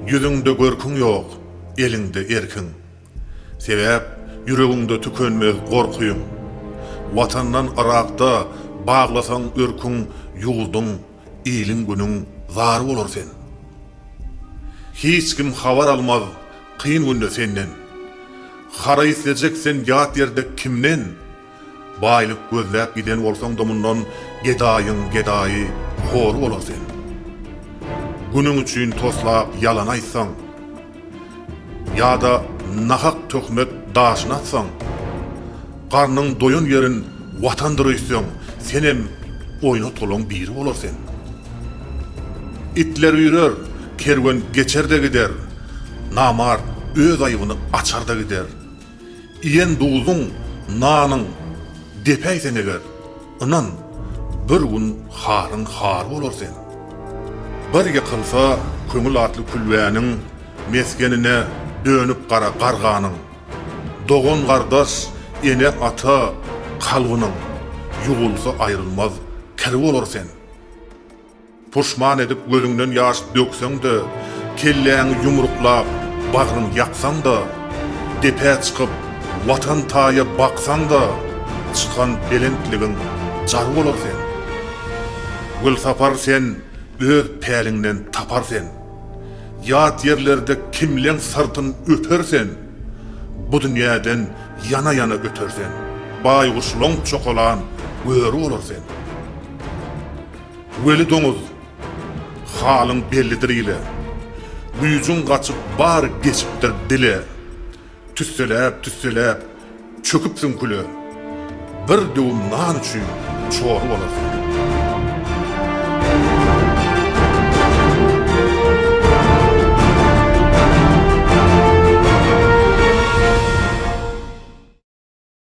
Ýüzüňde görküň ýok, eliňde erkiň. Sebäp ýüregiňde tükenmez gorkyň. Watandan Yrakda baglasaň örküň Ýurduň, iliň-günüň zar bolar sen. Hiç kim habar almaz kyn günde senden. Hara islejek sen ýat ýerde kimden? Baýlyk gözläp giden bolsaň-da mundan Gedaýyň gedaýy, hory bolar sen. Günüň üçin toslap ýalan aýtsaň, Ýa-da nahak töhmet daşyny atsaň, Garnyň doýan ýerin Watandyr öýtseň, Senem oýnatgylyň biri bolar sen. Itler üýrer, kerwen geçer-de gider, Namart öz aýbyny açar-da gider. Iýen duzuň, nanyň depäýseň eger, ynan, bir gün halyň haly bolar seň. Bir ýykylsa köňül atly külbäniň, mesgenine dönüp gara garganyň. Dogan-gardaş, ene-ata kalbynyň, ýuwulsa aýrylmaz kir bolar seň. Puşman edip gözüňden ýaş dökseň-de, kelläňi ýumruklap, bagryň ýaksaň-da, depä çykyp, Watan taýa baksaň-da, çykan belentligiň jar bolar sen. Gülsapar sen öz päliňden tapar sen. Ýat ýerlerde kimleň syrtyn öper sen. Bu dünýäden ýana-ýana öter sen. Baýguş loňk çokalan böri bolar sen. Weli doňuz, Halyň bellidir ile. Güýjüň gaçyp bar geçipdir dile. Tüsseläp-tüsseläp çöküpsiň küle. Bir döwüm nan üçin çor bolarsyň.